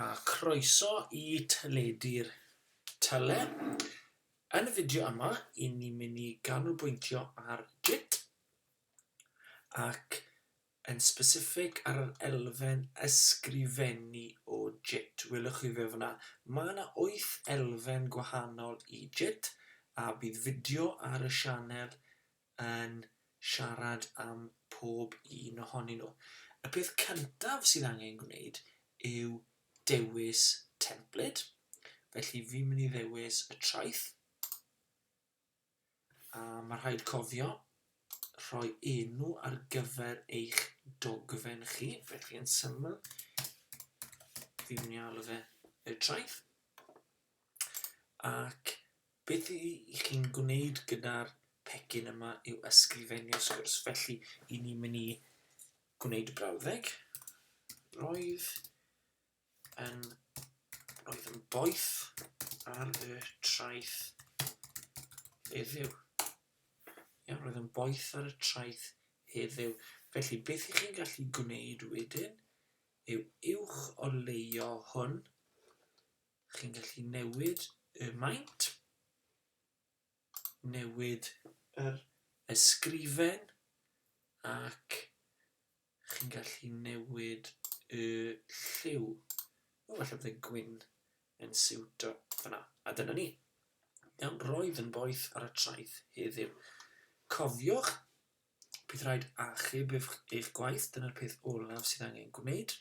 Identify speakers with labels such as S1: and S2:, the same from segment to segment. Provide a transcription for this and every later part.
S1: A chroeso i Teledu'r Tele. Yn y fideo yma, i ni mynd i ganolbwyntio ar JIT ac yn specific ar yr elfen ysgrifennu o JIT. Welwch chi fe fyna. Mae yna 8 elfen gwahanol i JIT a bydd fideo ar y sianel yn siarad am pob un ohonyn nhw. Y peth cyntaf sydd angen gwneud yw dewis templed. Felly fi'n mynd i ddewis y traeth. A mae rhaid cofio rhoi enw ar gyfer eich dogfen chi. Felly yn syml, fi'n mynd i alw fe y traeth. Ac beth y y'ch chi'n gwneud gyda'r pecyn yma yw ysgrifennu sgwrs. Felly, i ni mynd i gwneud y brawddeg. Roedd yn, roedd yn boeth ar y traeth heddiw. Iawn, roedd yn boeth ar y traeth heddiw. Felly, beth ych chi'n gallu gwneud wedyn yw uwch o leio hwn Chi'n gallu newid y maint, newid yr ysgrifen ac chi'n gallu newid y lliw. O, falle bod y gwyn yn siwto fyna. A dyna ni. Iawn, roedd yn boeth ar y traeth heddiw. Cofiwch, bydd rhaid achub eich gwaith, dyna'r peth olaf sydd angen gwneud.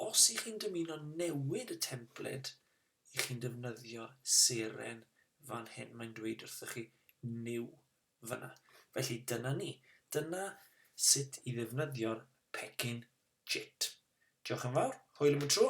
S1: Os y'ch chi'n dymuno newid y templed y'ch chi'n defnyddio seren fan hyn, mae'n dweud wrthych chi New fan'na. Felly dyna ni. Dyna sut i ddefnyddio'r pecyn JIT. Diolch yn fawr, hwyl am y tro!